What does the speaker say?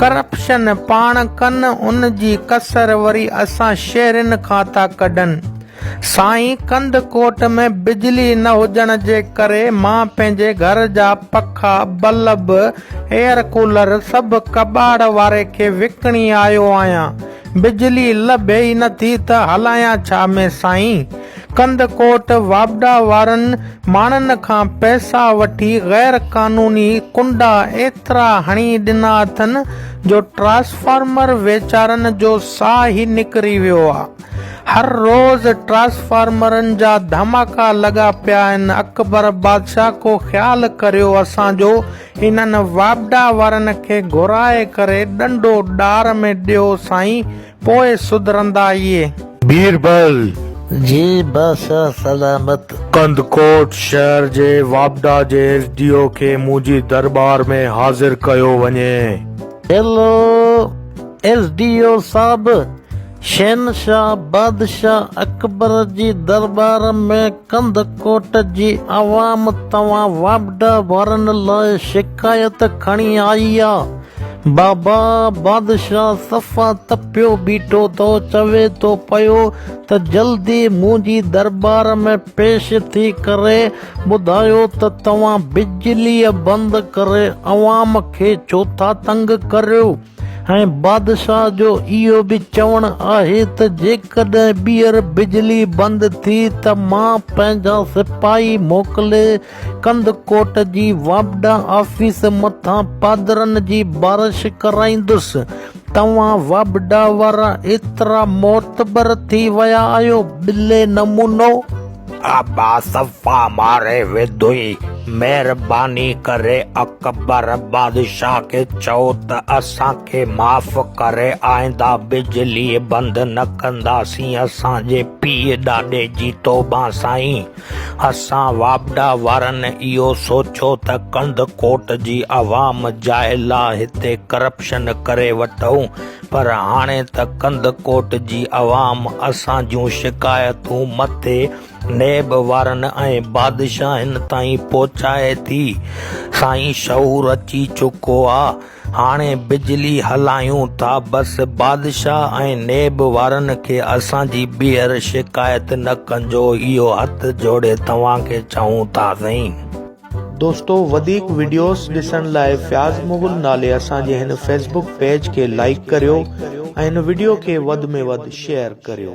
Corruption پاڻ ڪن ان جي ڪسر وري اسان شهرين کان ٿا ڪڍن سائين ڪنڌ ڪوٽ ۾ بجلي نه هجڻ جي ڪري مان پنهنجي گهر جا پکا بلب ايئر ڪولر سڀ ڪٻاڙ واري کي وڪڻي آيو آهيان بجلي لڀي ئي نه ٿي ته هلايان ڇا مين سائين ڪنڌ ڪوٽ واپڊا وارن ماڻهن کان پئسا وٺي غير قانوني ڪنڊا ايترا هڻي ڏنا اٿن جو ٽرانسفارمر ويچارن جو ساهه ئي نڪري ويو آ. هر روز ٽرانسفارمرن جا ڌماڪا لڳا پيا آهن. اڪبر بادشاهه ڪو خيال ڪريو اسان جو انهن واپڊا وارن کي گهرائي ڪري ڏنڊو ڏار ۾ ڏيو سائين. پوء سڌرندائيء. بيربل جي بادشاهه سلامت. ڪنڌڪوٽ شهر جي واپڊا جي ايس ڊي او کي مون جي درٻار ۾ حاضر ڪيو وڃي. هيلو ايس ڊي او صاحب، شهنشاهه بادشاهه اڪبر جي درٻار ۾ ڪنڌڪوٽ جي عوام توهان واپڊا وارن لاء شڪايت کڻي آئي آ. بابا بادشاهه صفا تپيو بيٺو ٿو چوي ٿو پيو ته جلدي منهنجي درٻار ۾ پيش ٿي ڪري ٻڌايو ته توهان بجلي بند ڪري عوام کي ڇو ٿا تنگ ڪريو. ۽ بادشاهه جو اهو به چوڻ آهي ته جيڪڏهن ٻيهر بجلي بند ٿي ته مان پنهنجا سپاهي موڪلي ڪنڌڪوٽ جي واپڊا آفيس مٿان پادرن جي بارش ڪرائيندس. توهان واپڊا وارا ايترا معتبر ٿي ويا آهيو، ٻلي نمونو! ابا صفا ماري وڌوئي. مهرباني ڪري اڪبر بادشاهه کي چئو ته اسان کي معاف ڪري آئنده بجلي بند نه ڪنداسين اسان جي پيء ڏاڏي جي توبه سائين اسان واپڊا وارن اهو سوچيو ته ڪنڌڪوٽ جي عوام جاهل آ هتي ڪرپشن ڪري وٺئون پر هاڻي ته ڪنڌڪوٽ جي عوام اسان جون شڪايتون مٿي نيب وارن ۽ بادشاهن تائين پهچائي ٿي. سائين شعور اچي چڪو آ. هاڻي بجلي هلايون ٿا بس بادشاهه ۽ نيب وارن کي اسان جي ٻيهر شڪايت نه ڪنجو اهو هٿ جوڙي توهان کي چئون ٿا سائين. دوستو وڌيڪ وڊيوز ڏسڻ لاء فياض مغل نالي اسان جي هن فيسبڪ پيج کي لائيڪ ڪريو ۽ هن وڊيو کي وڌ ۾ وڌ شيئر ڪريو.